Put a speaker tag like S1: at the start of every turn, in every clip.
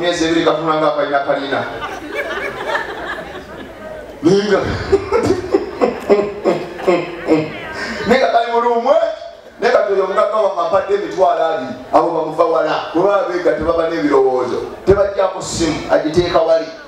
S1: emyezi ebiri katunula nga akalina kalina ninga naye nga kali mulumwe naye kati oyo omugagga wamwe ampadde emitwalo abiri abo bamuva wala kuba abeega tebaba n'ebirowoozo tebajjako simu agiteeka wali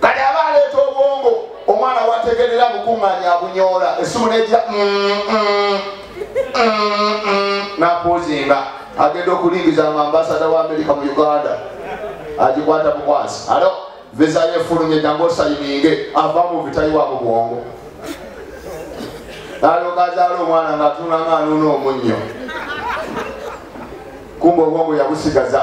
S1: kale aba aleeta obwongo omwana wategerera bukuŋŋanya abunyoola essimu nejja mm, mm, mm, nakuuzinga agenda okulingiza mu ambasada wa amerika mu uganda agikwata mukwasi alo visa yefulumye jangu osayininge ava mu vitayiwa mu bwongo alogazaala omwana ngaatunanga anuuna omunnyo kumba obwongo yabusigaza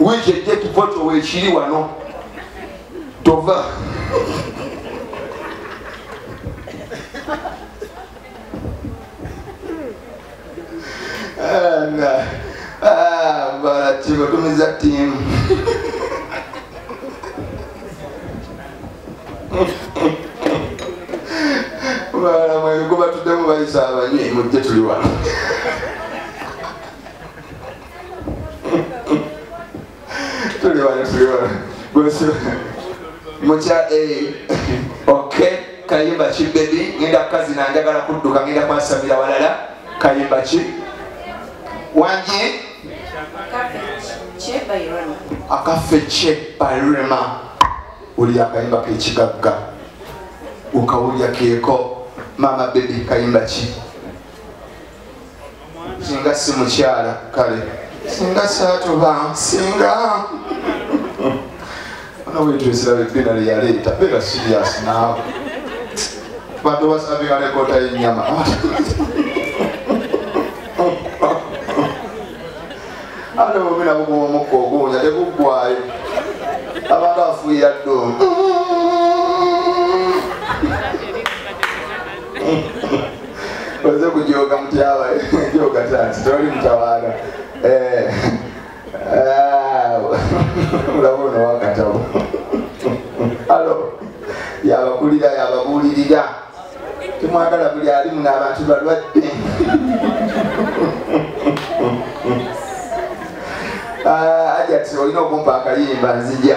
S1: wiiki ejja ekifo kyo wekiri wano tova batumiza tiimu balamu ebikuba tuddemu bayisa abanywi mujje tuli wano tuli wano tuli wano gwesu mukya eh, ok kayimba ki bebi ngenda kukazi nanjagala kudduka ngenda kwasamira walala kayimba ki wanje akaffe kye balema oli akayimba kekigagga ukawulya keko mama bebi kayimba ki singa si mukyala kale singa satuba singa nobwetwesirabebinale yaleeta bera sirias naawe bantu basabika lekota yenyama ate bubina bugumu omukka oguwunya teguggwayo abantu afuuyira ddo oze kujooga mutyaba jooga tanti toli mutawaana eh, ah, olaba ono wakatabo alo yabakulira yababuulirira temwagala buli alimu n'abantu balwadde ah, ajati olina okumpa akayimba nzija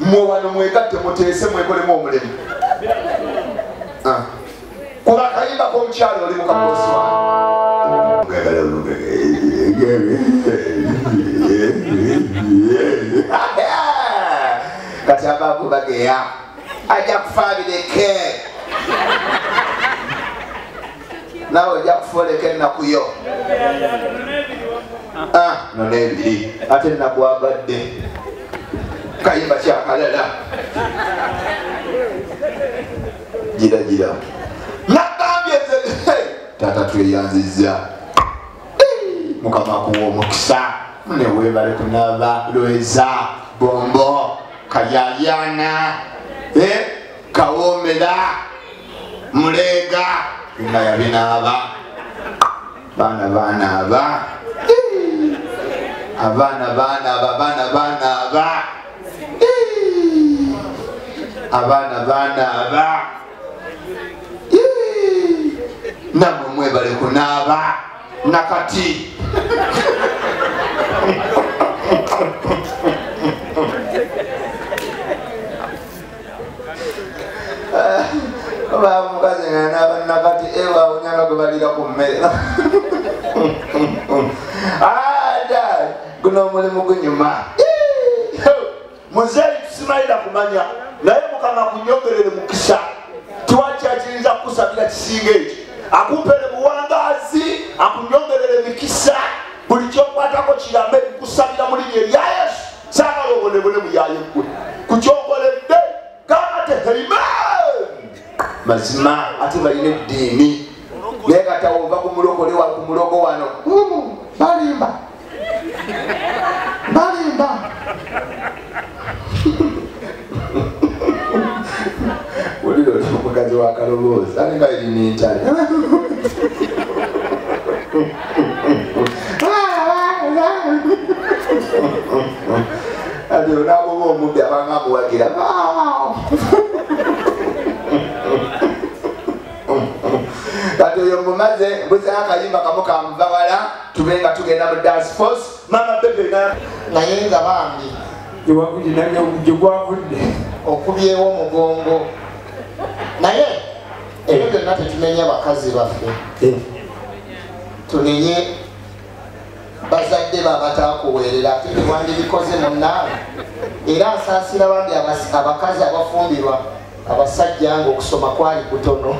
S1: mwe wano mwegatte muteese mwekolemu omulimu ah. kuba akayimba komukyalo oli mukabosi kati abakubageya ajja kufa bireke nawe ojja kufoleka ennaku yo ah, nona ebiri ate ennaku abadde kayimba kyakalala gira gira nagambye taata tweyanziza mukama kuwa omukisa newebale kunaba lweza bombo kayayana eh? kawomera muleega nga yabinaaba baana banaaba abaana banaaba baana banaaba abaana banaaba namwe mwebale kunaaba nakati bamukazi nga nabanna kati ewawunyanga gwe balira ku mmere ada guno omulimu gunyuma muzeeyi tusimalira kumanya naye mukama kunyogerere mukisa tiwakyakiriza kukusabira kisinga ekyo akumpere buwangazi akunyongerere mikisa buli kyokwatako kirame kukusabira mulinya erya yesu saagala obonebone buyaye gwe ku kyokoledde kamate heime mazima ate balina eddiini naye katawova ku mulokole wa ku mulogo wano balimba balimba wulira oti omukazi wa kaloboozi ate nga eri mintale ati onabuba omubbi abanga amuwagira kati oyo mumaze mbuza akayimba kamu kamuvawala tube nga tugenda mu dance force mama bebe na naye nga
S2: bambi iwakuje nange okuje gwavudde
S3: okubyewo
S2: omugongo naye ebyo byonna tetumenya bakazi baffe eh. tunenye bazadde babatakuweerera ate tewandibikoze munnaabwe era nsaasira bambi abakazi abafumbirwa abasajja nga okusoma kwali kutono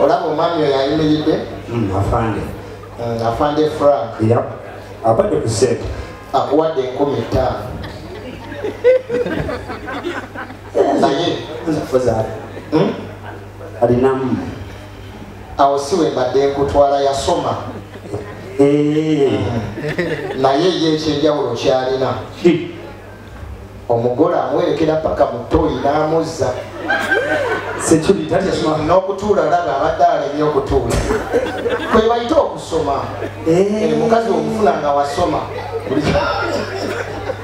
S2: olaba omwami oyo ayimiridde hmm, afande hmm, afande frank abadde
S3: ku sente akuwadde enkumi
S2: ttaano naye hmm?
S3: alinamu
S2: awo si wembadde nkutwala yasoma eh. naye ye ekyenjawulo kyalina omugole amuwerekera paka mutoyi n'amuzza n'okutuula laba abadde alemye okutuula kwe bayite okusoma eh. Eh, mukazi okufuna nga wasoma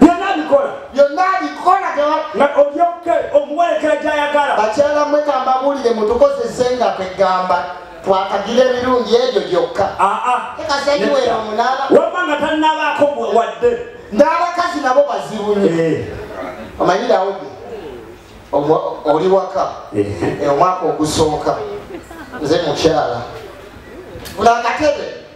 S2: byonna
S3: abikola byonna abikola nga
S2: olyoke omuwerekera gyayagala
S3: bakyala mwe kambabuulire
S2: mutukozesenga kwegamba twakagira ebirungi ebyo gyokka ekasaliwera omunaaba wabba nga tannabaako
S3: wadde n'abakazi
S2: nabo bazibunye eh. omanyirawo oli waka eh. Eh, omwaka ogusooka nze mukyala buli akatebe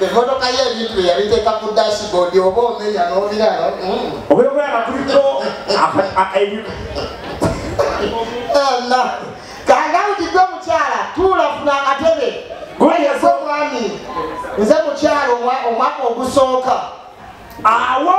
S2: emmotoka ye ebintu bye yabiteeka ku dashboard oba omenya n'obirala mm. obeera
S3: okulaba nga kuliko
S2: kanga wujidde omukyala tuula funa akatebe gweyaze omwami nze mukyala omwaka ogusooka awo